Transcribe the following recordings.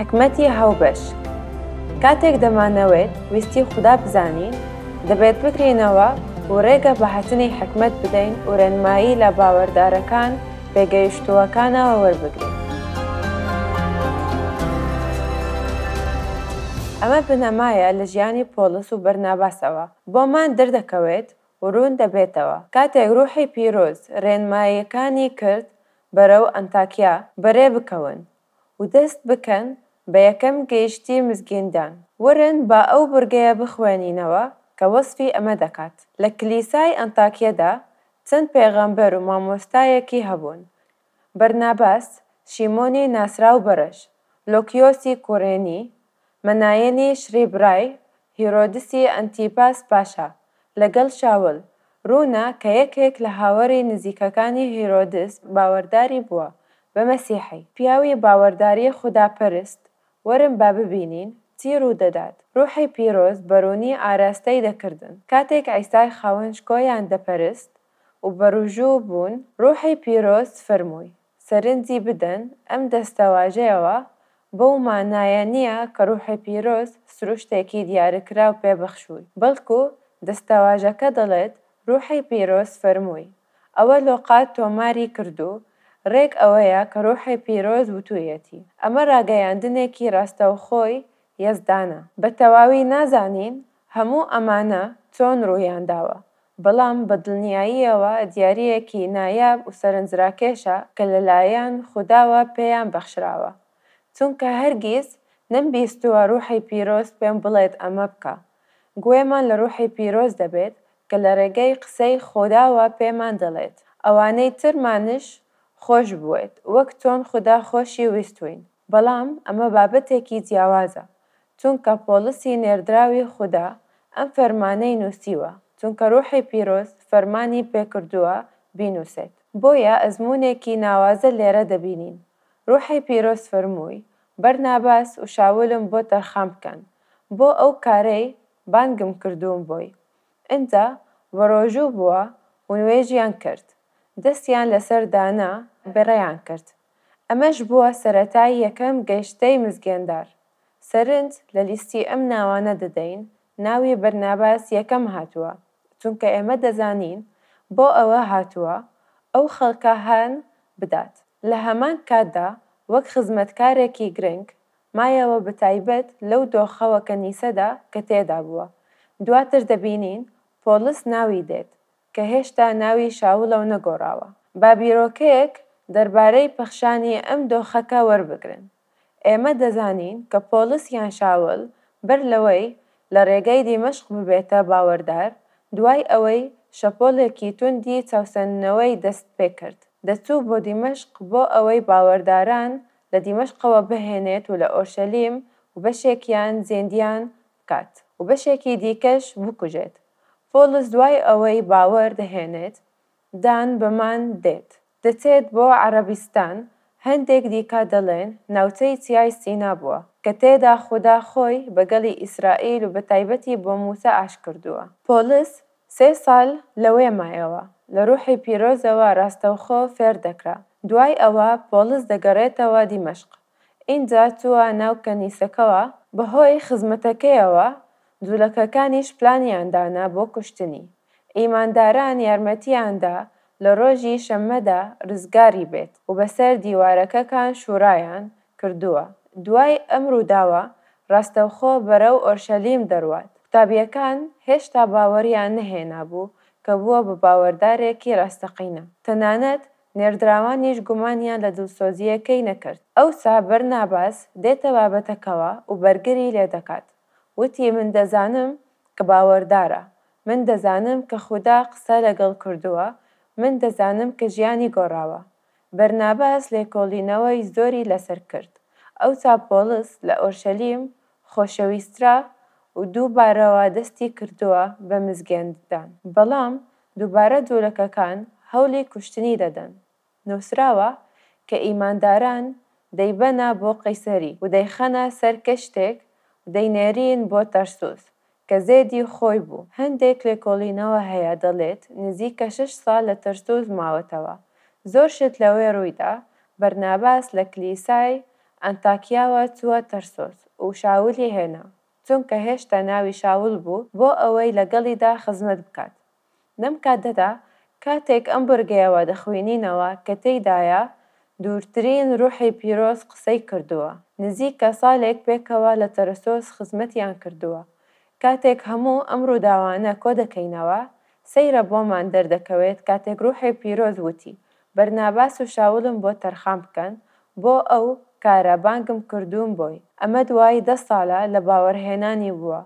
حیکمەتی هاوبەش، کاتێک دەمانەوێت ویستی خودا بزانین، دەبێت بگرینەوە و ڕێگە بە هاتنی حیکمەت بدەین و ڕێنمایی لە باوەردارەکان پێگەیشتووەکانەوە وەربگرین. ئەمە بنەمایە لە ژیانی پۆڵس و بەرناباسەوە بۆمان دەردەکەوێت و ڕوون دەبێتەوە، کاتێک ڕووحی پیرۆز ڕێنماییەکانی کرد بەرەو ئەنتاکیا بەرێ بکەون و دەست بکەن بە یەکەم گەیشتی مزگیندان. وەرن با ئەو بڕگەیە بخوێنینەوە کە وەسفی ئەمە دەکات، لە کلیسای ئەنتاکیەدا چەند پێغەمبەر و مامۆستایەکی هەبوون، بەرناباس، شیمۆنی ناسراو بەرەش، لۆکیۆسی کوڕێنی، مەنایەنیش ڕیبڕای هیرۆدسی ئەنتیپاس پاشا لەگەڵ شاول، ڕوونە کە یەکێک لە هاوەری نزیکەکانی هیرۆدس باوەرداری بووە بە مەسیحی. پیاوی باوەرداری خوداپەرست، وەرن با ببینین چی ڕوو دەدات، ڕوحی پیرۆز بەڕوونی ئاراستەی دەکردن. کاتێک عیسای خاوەن شکۆیان دەپەرست و بەڕوژوو بوون، ڕوحی پیرۆز فەرمووی، سەرنجی بدەن، ئەم دەستەواژەیەوە بەو مانایە نییە کە ڕوحی پیرۆز سروشتێکی دیارکراو پێ بەخشووی، بەڵکو دەستەواژەکە دەڵێت ڕوحی پیرۆز فەرمووی. ئەوە لۆقا تۆماری کردو ڕێک ئەوەیە کە ڕوحی پیرۆز وتوویەتی. ئەمە ڕاگەیاندنێکی ڕاستەوخۆی یەزدانە. بە تەواوی نازانین هەموو ئەمانە چۆن ڕوویان داوە، بەڵام بە دڵنیاییەوە دیارییەکی نایاب و سەرنجراکێشە کە لەلایەن خوداوە پێیان بەخشراوە، چونکە هەرگیز نەمبیستووە ڕووحی پیرۆز پێم بڵێت ئەمە بکە. گوێمان لە ڕووحی پیرۆز دەبێت کە لە ڕێگەی قسەی خوداوە پێمان دەڵێت ئەوانەی ترمانش خۆش بوێت وەک چۆن خودا خۆشی ویستووین. بەڵام ئەمە بابەتێکی جیاوازە، چونکە پۆڵسی نێردراوی خودا ئەم فەرمانەی نووسیوە، چونکە ڕووحی پیرۆز فەرمانی پێ کردووە بینووسێت. بۆیە ئەزموونێکی ناوازە لێرە دەبینین، ڕووحی پیرۆز فەرمووی، بەرناباس و شاولم بۆ تەرخان بکەن، بۆ ئەو کارەی بانگم کردوون بۆی. ئنجا بەڕۆژوو بووە و نوێژیان کرد، دەستیان لەسەر دانا، بەڕێیان کرد. ئەمەش بووە سەرەتای یەکەم گەیشتەی مزگێندار. سەرنج لە لیستی ئەم ناوانە دەدەین، ناوی بەرناباس یەکەم هاتووە، چونکە ئێمە دەزانین بۆ ئەوە هاتووە ئەو خەڵکە هان بدات. لە هەمان کاتدا وەک خزمەتکارێکی گرنگ مایەوە بەتایبەت لەو دۆخە و کەنیسەدا کە تێدا بووە. دواتر دەبینین پۆڵس ناوی دێت، کە هێشتا ناوی شاولە و نەگۆڕاوە. با بیرۆکەیەک دەربارەی پەخشانی ئەم دۆخەکە وەربگرن. ئێمە دەزانین کە پۆڵس یان شاول بەر لەوەی لە ڕێگای دیمەشق ببێتە باوەردار، دوای ئەوەی شەپۆلێکی توندی چاوسەندنەوەی دەست پێ کرد، دەچوو بۆ دیمەشق بۆ ئەوەی باوەرداران لە دیمەشقەوە بهێنێت و لە ئۆرشەلیم و بەشێکیان زیندیان بکات و بەشێکی دیکەش بکوژێت. پۆڵس دوای ئەوەی باوەر دەهێنێت، دان بەمان دێت. دەچێت بۆ عەرەبستان، هەندێک دیکە دەڵێن ناوچەی چیای سینا بووە، کە تێدا خودا خۆی بە گەلی ئیسرائیل و بە تایبەتی بۆ مووسا ئاش کردووە. پۆڵس سێ ساڵ لەوێ مایەوە، لە ڕووحی پیرۆزەوە ڕاستەوخۆ فێر دەکرا. دوای ئەوە پۆڵس دەگەڕێتەوە دیمەشق. ئینجا چووە ناو کەنیسەکەوە، بەهۆی خزمەتەکەیەوە جولەکەکانیش پلانیان دانا بۆ کوشتنی، ئیمانداران یارمەتیان دا لە ڕۆژی شەممەدا ڕزگاری بێت و بەسەر دیوارەکەکان شورایان کردووە، دوای ئەم ڕووداوە ڕاستەوخۆ بەرەو ئۆرشەلیم دەڕوات، قوتابیەکان هێشتا باوەڕیان نەهێنابوو کە بووە بە باوەڕدارێکی ڕاستەقینە، تەنانەت نێردراوانیش گومانیان لە دڵسۆزییەکەی نەکرد. ئەوسا بەرناباس دێتە بابەتەکەوە و بەرگری لێ دەکات. وتی، من دەزانم کە باوەردارە. من دەزانم کە خودا قسە لەگەڵ کردووە. من دەزانم کە ژیانی گۆڕاوە. بەرناباس لێکۆڵینەوەی زۆری لەسەر کرد. ئەوسا پۆڵس لە ئۆرشەلیم خۆشەویسترا و دوو بارەوە دەستی کردووە بە مزگێنددان، بەڵام دووبارە جوولەکەکان هەولی کوشتنی دەدەن. نووسراوە کە ئیمانداران دەیبەنە بۆ قەیسەری و دەیخەنە سەر کەشتێک و دەینێرین بۆ تەرسوس کە زێدی خۆی بوو، هەندێک لێکۆڵینەوە هەیە دەڵێت نزیکە شەش ساڵ لە تەرسوس ماوەتەوە، زۆر شت لەوێ ڕوویدا، بەرناباس لە کلیسای ئەنتاکیاوە چووە تەرسوس و شاولی هێنا، چونکە هێشتا ناوی شاول بوو، بۆ ئەوەی لەگەڵیدا خزمەت بکات، لەم کاتەدا کاتێک ئەم بڕگەیەوە دەخوینینەوە کە تێیدایە دوورترین ڕوحی پیرۆز قسەی کردووە، نزیکە سالێک پێکەوە لە تەرسۆس خزمەتیان کردووە، کاتێک هەموو ئەم ڕووداوانە کۆدەکەینەوە، سەیرە بۆمان دەردەکەوێت کاتێک ڕوحی پیرۆز وتی، بەرناباس و شاولم بۆ تەرخان بکەن بۆ ئەو کارە بانگم کردوون بۆی، ئەمە دوای دە سالە لە باوەڕهێنانی بووە،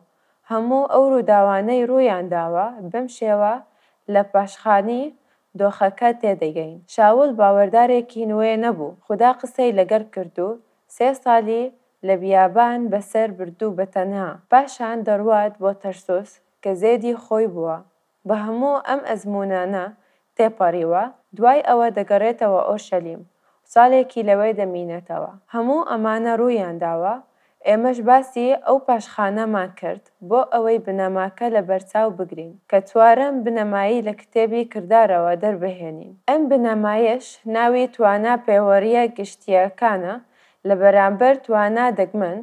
هەموو ئەو ڕووداوانەی ڕوویان داوە، بەم شێوە لە پاشخانی دۆخەکە تێدەگەین. شاوڵ باوەردارێکی نوێ نەبوو، خودا قسەی لەگەڵ کرد و سێ ساڵی لە بیابان بەسەر بردو بەتەنها، پاشان دەڕوات بۆ تەرسوس کە زێدی خۆی بووە، بە هەموو ئەم ئەزموونانە تێپەڕیوە، دوای ئەوە دەگەڕێتەوە ئۆرشەلیم و ساڵێکی لەوێ دەمینێتەوە. هەموو ئەمانە ڕوویان داوە، ئێمەش باسی ئەو پاشخانەمان کرد بۆ ئەوەی بنەماکە لەبەرچاو بگرین، کە چوارەم بنەمایی لە کتێبی کردارەوە دەربهێنین. ئەم بنەمایەش ناوی توانا پێوەرییە گشتییەکانە لە بەرامبەر توانا دەگمەن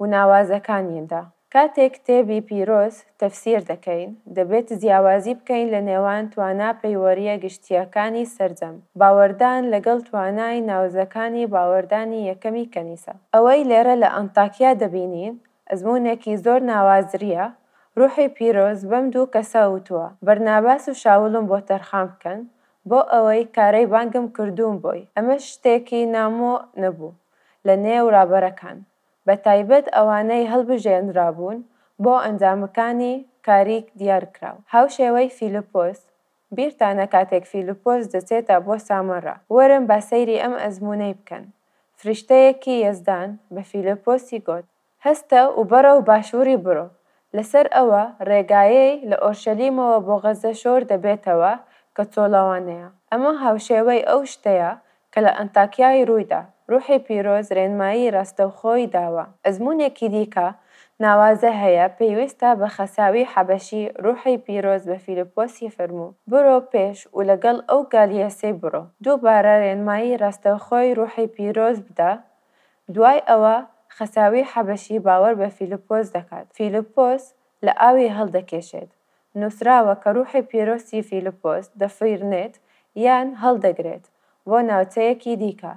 و ناوازەکانیدا. کاتێک کتێبی پیرۆز تەفسیر دەکەین، دەبێت جیاوازی بکەین لە نێوان توانا پەیوەرییە گشتییەکانی سەرجەم باوەردان لەگەڵ توانای ناوزەکانی باوەردانی یەکەمی کەنیسە. ئەوەی لێرە لە ئەنتاکیا دەبینین، ئەزموونێکی زۆر ناوازرییە، ڕوحی پیرۆز بەم دوو کەسە وتووە، بەرناباس و شاولم بۆ تەرخان بکەن، بۆ ئەوەی کارەی بانگم کردووم بۆی، ئەمەش شتێکی نامۆ نەبوو لە نێو ڕابەرەکان، بەتایبەت ئەوانەی هەڵبژێنرابوون بۆ ئەنجامەکانی کاریک دیارکراو، هاوشێوەی فیلپۆس، بیرتانە کاتێک فیلپۆس دەچێتە بۆ سامەڕا، وەرن با سەیری ئەم ئەزموونەی بکەن، فریشتەیەکی یەزدان بە فیلپۆسی گۆت، هەستە و بەڕەو باشووڕی بڕۆ، لەسەر ئەوە ڕێگایەی لە ئۆرشەلیمەوە بۆ غەزە شۆر دەبێتەوە کە چۆڵەوانەیە، ئەمە هاوشێوەی ئەو شتەیە کە لە ئەنتاکیای روویدا، روحی پیرۆز رێنمایی راستەوخۆی داوە. ئەزموونێکی دیکە ناوازە هەیە پەیوەستە بە خەساوی حەبەشی، روحی پیرۆز بە فیلپۆسی فەرموو، برۆ پێش و لەگەڵ ئەو گالیێسەی بڕۆ. دووبارە رێنمایی راستەوخۆی روحی پیرۆز بدە، دوای ئەوە خەساوی حەبەشی باوەر بە فیلپۆس دەکات، فیلپۆس لە ئاوی هەڵدەکێشێت، نووسراوە کە روحی پیرۆسی فیلپۆس دەفڕێت یان هەڵدەگرێت بۆ ناوچەیەکی دیکە،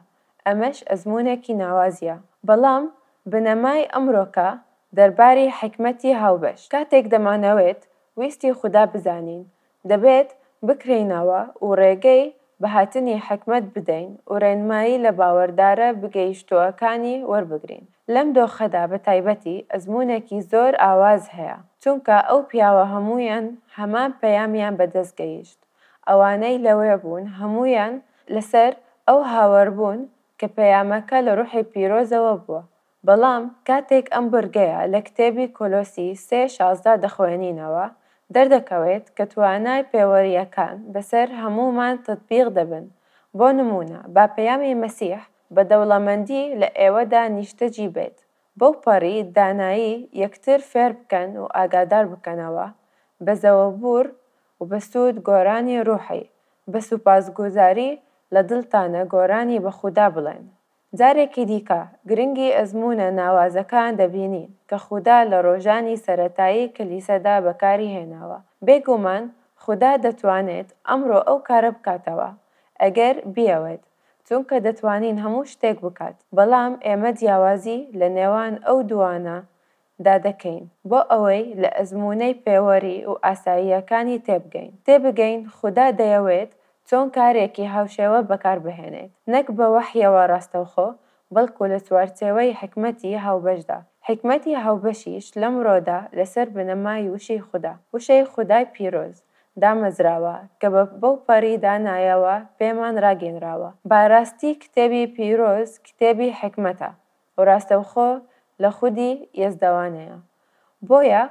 ئەمەش ئەزموونێکی ناوازییە، بەڵام بنەمای ئەمرۆکە دەرباری حیکمەتی هاوبەش، کاتێک دەمانەوێت ویستی خودا بزانین، دەبێت بکرێینەوە و رێگەی بە هاتنی حیکمەت بدەین و رێنمایی لە باوەردارە بگەیشتووەکانی وەربگرین. لەم دۆخەدا بە تایبەتی ئەزموونێکی زۆر ئاواز هەیە، چونکە ئەو پیاوە هەموویان هەمان پەیامیان بە دەست گەیشت، ئەوانەی لەوێ بوون هەموویان لەسەر ئەو هاوەربوون کە پەیامەکە لە روحی پیرۆزەوە بووە، بەڵام کاتێک ئەم بڕگەیە لە کتێبی کۆلۆسی سێ شازدە دەخوێنینەوە، دەردەکەوێت کە توانای پێوەرییەکان بەسەر هەموومان تەتبیق دەبن، بۆ نموونە با پەیامی مەسیح بە دەوڵەمەندی لە ئێوەدا نیشتەجی بێت، بەوپەڕی دانایی یەکتر فێر بکەن و ئاگادار بکەنەوە، بە زەوەبوور و بە سوود گۆرانی ڕوحی، بە سوپاسگوزاری لە دڵتانە گۆرانی بە خودا بڵێن. جارێکی دیکە گرنگی ئەزموونە ناوازەکان دەبینین کە خودا لە ڕۆژانی سەرەتایی کلیسەدا بەکاری هێناوە. بێگومان خودا دەتوانێت ئەمڕۆ ئەو کارە بکاتەوە ئەگەر بیەوێت، چونکە دەتوانین هەموو شتێک بکات. بەڵام ئێمە جیاوازی لە نێوان ئەو دووانە دا دەکەین بۆ ئەوەی لە ئەزموونەی پێوەری و ئاساییەکانی تێبگەین، تێبگەین خودا دەیەوێت چۆن کارێکی هاوشێوە بەکار بهێنێت، نەک بە وەحیەوە ڕاستەوخۆ، بەڵکو لە چوارچێوەی حیکمەتی هاوبەشدا، حیکمەتی هاوبەشیش لەمڕۆدا لەسەر بنەمای وشەی خودا، وشەی خودای پیرۆز، دامەزراوە کە بە بەوپەڕی دانایەوە پێمان ڕاگەینراوە، باراستی کتێبی پیرۆز کتێبی حیکمەتە، و ڕاستەوخۆ لە خودی یەزدەوانەیە. بۆیە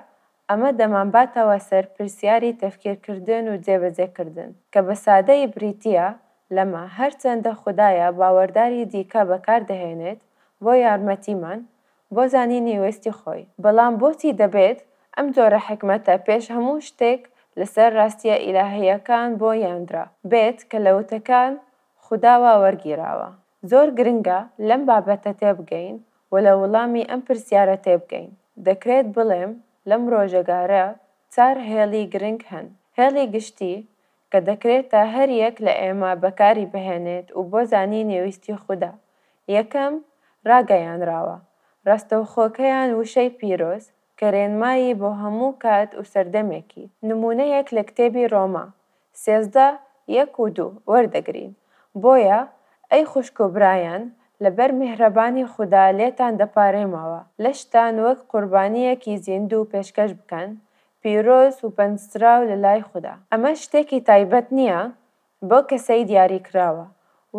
ئەمە دەمانباتەوە سەر پرسیاری تەفکیرکردن و جێبەجێکردن، کە بە سادەیی بریتییە لەمە، هەرچەندە خودایە باوەرداری دیکە بەکار دەهێنێت بۆ یارمەتیمان بۆ زانینی ویستی خۆی، بەڵام بۆچی دەبێت ئەم جۆرە حیکمەتە پێش هەموو شتێک لەسەر ڕاستییە ئیلاهییەکان بۆ یاندرا بێت کە لە وتەکان خودا وا وەرگیراوە. زۆر گرنگە لەم بابەتە تێبگەین و لە وڵامی ئەم پرسیارە تێبگەین. دەکرێت بڵێم لەم ڕۆژەگارە چار هێڵی گرنگ هەن. هێڵی گشتی، کە دەکرێتە هەر یەک لە ئێمە بەکاری بهێنێت و بۆ زانینی ویستی خودا. یەکەم، ڕاگەیانراوە ڕاستەوخۆکەیان وشەی پیرۆز، کە رێنمایی بۆ هەموو کات و سەردەمێکی. نموونەیەک لە کتێبی رۆما سێزدە یەک و دوو وەردەگرین، بۆیە ئەی خوشک و برایان لەبەر میهرەبانی خودا لێتان دەپارێمەوە لەشتان وەک قوربانییەکی زیندوو پێشکەش بکەن، پیرۆز وپەنجدراو لەلای خودا. ئەمە شتێکی تایبەت نییە بۆ کەسەی دیاریکراوە،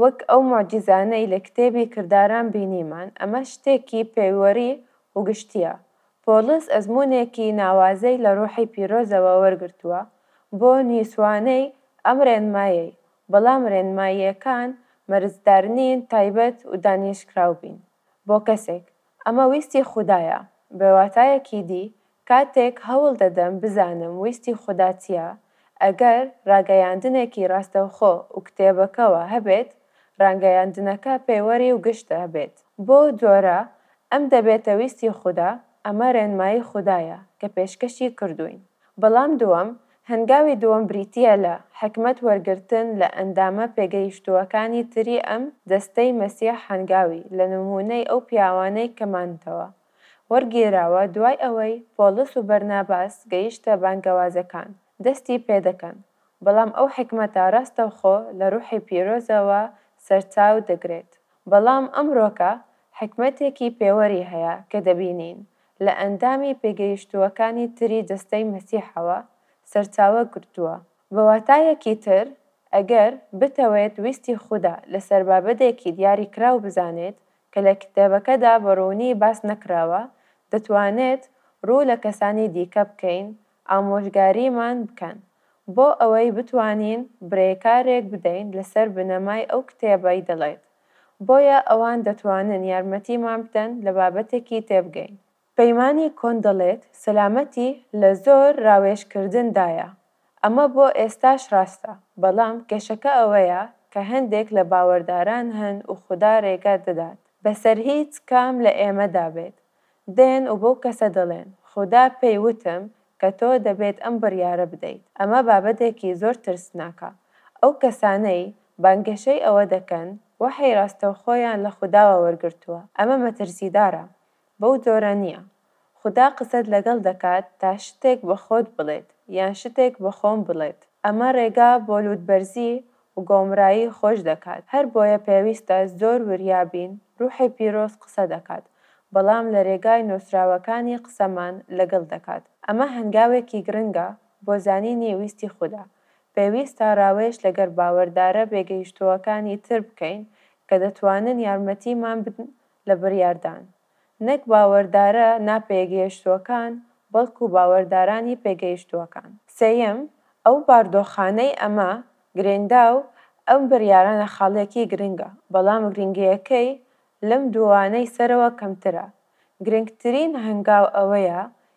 وەک ئەو موعجیزانەی لە کتێبی کرداران بینیمان، ئەمە شتێکی پێوەری و گشتییە. پۆڵس ئەزموونێکی ناوازەی لە ڕوحی پیرۆزەوە وەرگرتووە بۆ نیسوانەی ئەم ڕێنمایەی، بەڵام ڕێنماییەکان مەرجدارنین تایبەت و دانیشتکراو بین بۆ کەسێک، ئەمە ویستی خودایە، بە واتایەکی دی کاتێک هەوڵ دەدەم بزانم ویستی خودا چییە، ئەگەر ڕاگەیاندنێکی ڕاستەوخۆ و کتێبەکەوە هەبێت، ڕانگەیاندنەکە پێوەری و گشتە بێت، بەو جۆرە ئەم دەبێتە ویستی خودا، ئەمە ڕێنمایی خودایە کە پێشکەشی کردووین. بەڵام دووەم، هەنگاوی دووەم بریتییە لە حیکمەت وەرگرتن لە ئەندامە پێگەیشتووەکانی تری ئەم دەستەی مەسیح هەنگاوی لە نموونەی ئەو پیاوانەی کە ماندەوە، وەرگێراوە دوای ئەوەی پۆڵس و بەرناباس گەیشتە بانگەوازەکان دەستی پێدەکەن بەڵام ئەو حیکمەتە ڕاستەوخۆ لە ڕوحی پیرۆزەوە سەرچاو دەگرێت بەڵام ئەمڕۆکە حیکمەتێکی پێوەری هەیە کە دەبینین لە ئەندامی پێگەیشتووەکانی تری جەستەی مەسیحەوە سەرچاوە گرتووە بەواتایەکی تر ئەگەر بتەوێت ویستی خودا لەسەربابەتێکی دیاریکراو بزانێت کە لە کتێبەکەدا بە ڕوونی باس نەکراوە، دەتوانێت ڕوو لە کەسانی دیکە بکەین ئامۆژگاریمان بکەن، بۆ ئەوەی بتوانین برێکارێک بدەین لەسەر بنەمای ئەو کتێبەی دەڵێت، بۆیە ئەوان دەتوانن یارمەتیمان بدەن لە بابەتێکی تێبگەین. پەیمانی کۆن دەڵێت سەلامەتی لە زۆر راوێژکردن دایە، ئەمە بۆ ئێستاش راستە، بەڵام کێشەکە ئەوەیە کە هەندێک لە باوەرداران هەن و خودا رێگە دەدات بەسەر هیچ کام لە ئێمەدا بێت، دێن و بەو کەسە دەڵێن خودا پێی وتم کە تۆ دەبێت ئەم بڕیارە بدەیت، ئەمە بابەتێکی زۆر ترسناکە، ئەو کەسانەی بانگەشەی ئەوە دەکەن وەحی راستەوخۆیان لە خوداوە وەرگرتووە، ئەمە مەترسیدارە، بەو جۆرە نیە خودا قسەت لەگەڵ دەکات تا شتێک بە خۆت بڵێت یان شتێک بە خۆم بڵێت ئەمە رێگا بۆ لوتبەرزی وگۆمرایی خۆش دەکات هەر بۆیە پێویستە زۆر وریا بین روحی پیرۆز قسە دەکات بەڵام لە رێگای نوسراوەکانی قسەمان لەگەڵ دەکات ئەمە هەنگاوێکی گرنگە بۆ زانینی ویستی خودا پێویستە راوێژ لەگەر باوەردارە بێگەیشتوەکانی تر بکەین کە دەتوانن یارمەتیمان بدن لە بڕیاردان، نەک باوەردارە ناپێگەیشتووەکان، بەڵکو باوەردارانی پێگەیشتووەکان. سێیەم، ئەو باردۆخانەی ئەمە گرێندا و ئەم بڕیارانە خاڵێکی گرنگە، بەڵام گرنگییەکەی لەم دووانەی سەرەوە کەمترە، گرنگترین هەنگاو ئەوەیە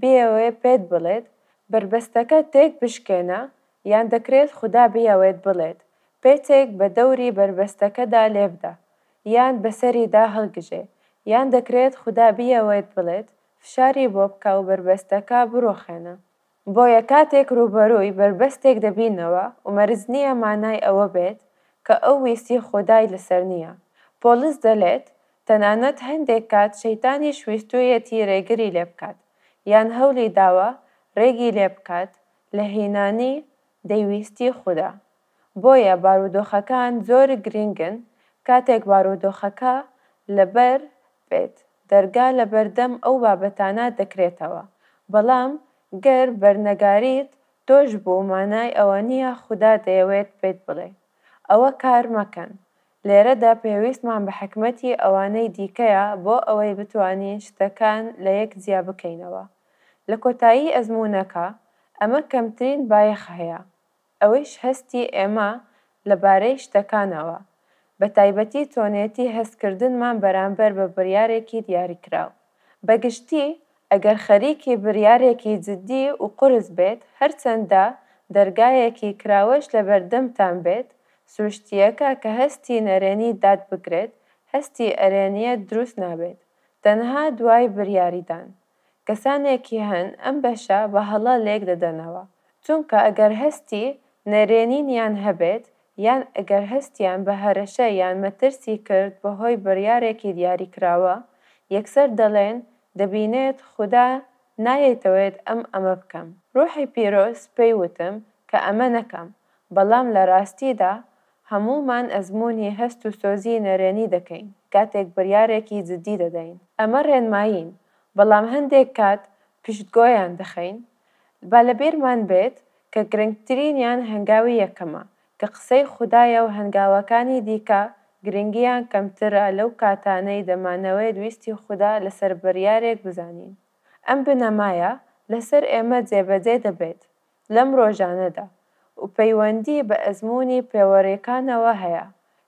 بیەوێت پێت بڵێت بەربەستەکە تێک بشکێنە یان دەکرێت خودا بیەوێت بڵێت پێچێک بە دەوری بەربەستەکەدا لێبدە یان بەسەریدا هەڵگژێ یان دەکرێت خودا بیەوێت بڵێت فشاری بۆ بکە و بەربەستەکە بڕوخێنە بۆیە کاتێک رووبەرووی بەربەستێک دەبینەوە و مەرج نییە مانای ئەوە بێت کە ئەو ویستی خودای لەسەر نییە پۆڵس دەلێت تەنانەت هەندێک کات شەیتانیش ویستوویەتی رێگری لێ بکات، یان هەولی داوە رێگی لێ بکات لە هینانی دەیویستی خودا. بۆیە بارودۆخەکان زۆر گرینگن، کاتێک بارودۆخەکە لەبەر بێت، دەرگا لەبەردەم ئەو بابەتانە دەکرێتەوە، بەڵام گەر بەرنەگاریت تۆش بوو مانای ئەوە نییە خودا دەیەوێت پێت بڵێ ئەوە کار مەکەن، لێرەدا پێویستمان بە حیکمەتی ئەوانەی دیکەیە بۆ ئەوەی بتوانین شتەکان لە یەک جیا بکەینەوە لە کۆتایی ئەزموونەکە، ئەمە کەمترین بایەخ هەیە، ئەوەیش هەستی ئێمە لە بارەی شتەکانەوە، بە تایبەتی چۆنێتی هەستکردنمان بەرامبەر بە بڕیارێکی دیاریکراو. بە گشتی ئەگەر خەریکی بریارێکی جدی و قورس بێت، هەرچەندە دەرگایەکی کراوەش لەبەردەمتان بێت، سروشتییەکە کە هەستی نەرێنی داد بگرێت، هەستی ئەرێنییەت دروست نابێت، تەنها دوای بریاریدان. کەسانێکی هەن ئەم بەشە بە هەڵە لێک دەدەنەوە، چونکە ئەگەر هەستی نەرێنینیان هەبێت، یان ئەگەر هەستیان بە هەرەشە یان مەترسی کرد بەهۆی بریارێکی دیاریکراوە، یەکسەر دەڵێن دەبینێت خودا نایەیتەوێت ئەم ئەمە بکەم روحی پیرۆز پێی وتم کە ئەمە نەکەم بەڵام لە راستیدا هەموومان ئەزموونی هەست و سۆزی نەرێنی دەکەین کاتێک بریارێکی جدی دەدەین ئەمە رێنمایین بەڵام هەندێک کات پشتگۆیان دەخەین با لەبیرمان بێت کە گرنگترینیان هەنگاوی یەکەمە کە قسەی خودایە و هەنگاوەکانی دیکە گرنگییان کەمترە لەو کاتانەی دەمانەوێت ویستی خودا لەسەر بڕیارێک بزانین. ئەم بنەمایە لەسەر ئێمە جێبەجێ دەبێت لەم ڕۆژانەدا و پەیوەندی بە ئەزموونی پێوەرێکانەوە هەیە،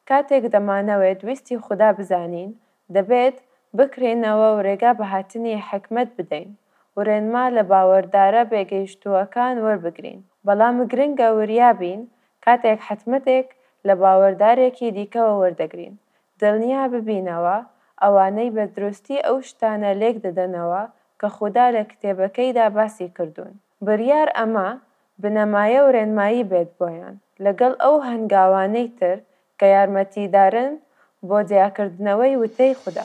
کاتێک دەمانەوێت ویستی خودا بزانین دەبێت بکرێینەوە و رێگا بە هاتنی حیکمەت بدەین و رێنما لە باوەردارە بێگەیشتووەکان وەربگرین، بەڵام گرنگە وریا بین کاتێک حتمەتێک لە باوەردارێکی دیکەوە وەردەگرین، دڵنیا ببینەوە ئەوانەی بە دروستی ئەو شتانە لێکدەدەنەوە کە خودا لە کتێبەکەیدا باسی کردوون، بریار ئەمە بنەمایە و رێنمایی بێت بۆیان، لەگەڵ ئەو هەنگاوانەی تر کە یارمەتیدارن بۆ جیاکردنەوەی وتەی خودا.